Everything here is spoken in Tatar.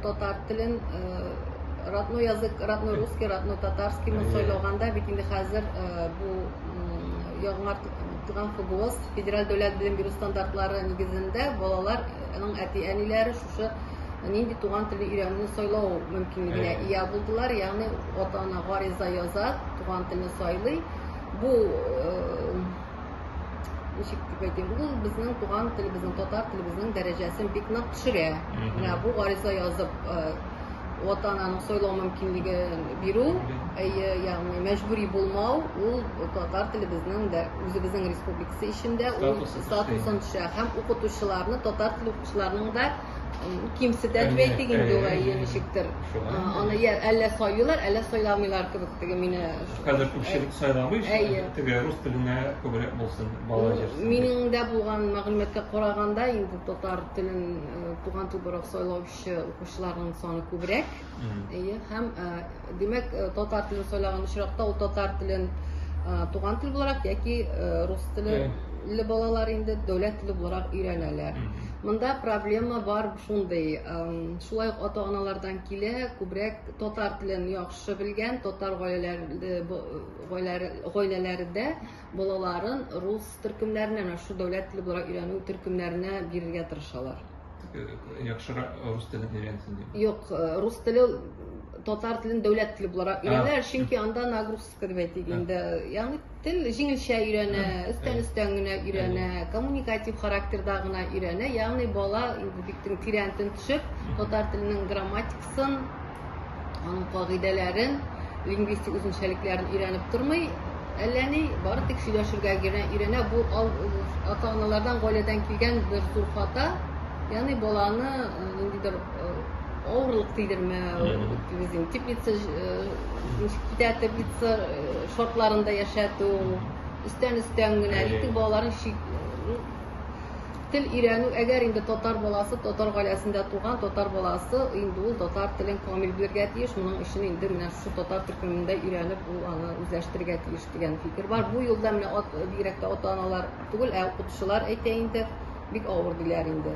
Татар телен родной язык, родной русский, родной татарский мы сайлаганда бит инде хәзер бу яңар туган ФБОС, федераль дәүләт белем бирү стандартлары нигезендә балаларның әти-әниләре шушы нинди туган телне өйрәнүне сайлау мөмкинлегенә ия булдылар. Ягъни ата-ана гариза яза, туган телне сайлый. Бу ничек дип әйтим бу безнең туган телебезнең татар телебезнең дәрәҗәсен бик нык төшерә менә бу гариза язып ата ананың сайлау мөмкинлеген бирү әйе ягъни мәҗбүри булмау ул татар телебезнең дә үзебезнең республикасы эчендә ул статусын төшерә һәм укытучыларны татар теле укытучыларының да кимсетә дип әйтик инде улай ничектер аны я әллә сайлыйлар әллә сайламыйлар кебек теге мине хәзер күпчелек сайламый әйе теге рус теленә күбрәк булсын бала җырсын минем дә булган мәгълүматка караганда инде татар телен туган тел буларак сайлаучы укучыларның саны күбрәк Әйе, һәм димәк, татар телен сайлаган очракта ул татар телен туган тел буларак яки рус теле балалар инде дәүләт теле буларак өйрәнәләр. Монда проблема бар шундый, шулай ук ата-аналардан килә, күбрәк татар телен яхшы белгән, татар гаиләләрендә балаларын рус төркемнәренә, шул дәүләт теле буларак өйрәнү төркемнәренә бирергә тырышалар. яхшырак рус телен өйрәнсен дип юк рус теле татар телен дәүләт теле буларак өйрәнәләр чөнки анда нагрузка дип әйтик инде ягъни тел җиңелчә өйрәнә өстән өстән генә өйрәнә коммуникатив характерда гына өйрәнә ягъни бала инде бик тирәнтен төшеп татар теленең грамматикасын аның кагыйдәләрен, лингвистик үзенчәлекләрен өйрәнеп тормый, әллә ни, бары тик сөйләшергә генә өйрәнә. Бу ата-аналардан, гаиләдән килгән бер зур хата. Ягъни баланы э, ниндидер э, авырлык тидермәү, үзен теплица, э, китә теплица шартларында яшәтү, өстән-өстән генә, итек балаларын Тел өйрәнү, әгәр инде татар баласы, татар гаиләсендә туган татар баласы, инде ул татар телен камил белергә тиеш, моның өчен инде менә шушы татар төркемендә өйрәнеп ул аны үзләштерергә тиеш дигән фикер бар. Бу юлда менә бигрәк тә ата-аналар түгел, ә укытучылар әйтә инде, бик авыр диләр инде.